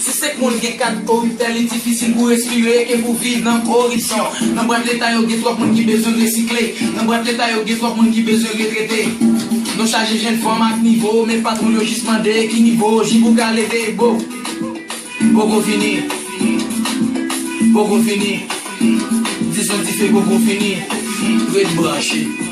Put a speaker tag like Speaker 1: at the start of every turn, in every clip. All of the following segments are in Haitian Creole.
Speaker 1: Si senk moun gen kat koritè li difisil pou respire ke pou viv nan koripsyon. Nan bwat leta yo gen twòp moun ki bezwen resikle, nan bwat leta yo gen twòp moun ki bezwen retrete. Nou chaje jenn fanm ak nivo men patwon yo jis mande ki nivo jip ou ka leve bo. Poko fini, poko fini, dizon dife poko fini, ret branche.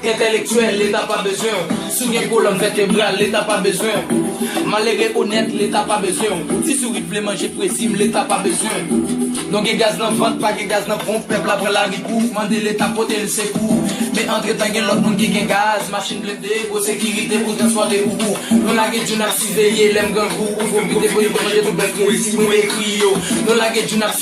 Speaker 1: Entèlektyèl, leta pa bezwen w. Si w gen kolòn vètebral, leta pa bezwen w. Malere onèt, leta pa bezwen w. Ti sourit vle manje pwezi m, leta pa bezwen w. Non gen gaz nan vant, pa gen gaz nan ponp, pèp la pran lari pou mande leta pote l sekou. Men antretan gen lòt moun ki gen gaz, machin blende, gwo sekirite pou transpòte poupou. Nou lage djoun ap siveye lèm grangou ou pwofite pou yo manje tout bèf nou resi mwen ekri yo. Nou lage djoun ap.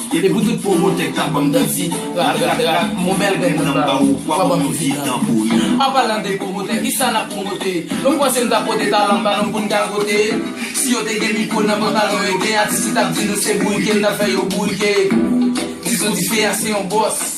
Speaker 1: Epi pou tout pwomotè k tap banm danti rat rat rat m on bèl grenn dan m ba ou wap banm yon vye dan pouri. An palan de pwomotè kisa nap pwomote Nou panse n tap pote talan n ba nou pou n gagote Si yo te gen mikwo nan pantalon yo gen atis ki tap di nou se bourike n tap fè yo bourike Dizo dife a se yon bòs.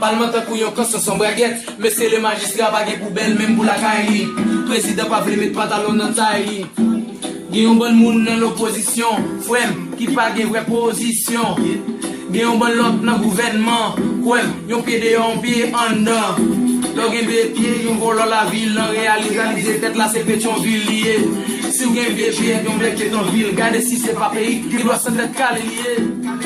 Speaker 1: Palman tankou yon kanson san bragèt Mesye le majistra pa gen poubèl menm pou lakay li Prezidan pa vle met pantalon nan tay li Gen yon bann moun nan lopozisyon Frè m ki pa gen vrè pozisyon Gen yon bann lòt nan gouvènman Kwè m yon pye deyò yon pye anndan Lè w gen de pye yon vòlò lavil Nan reyalizalize tèt la se Petyonvil li ye Si w gen de pye yon bèk petonvil Gade si se pa peyi ki dwa san tèt kale li ye.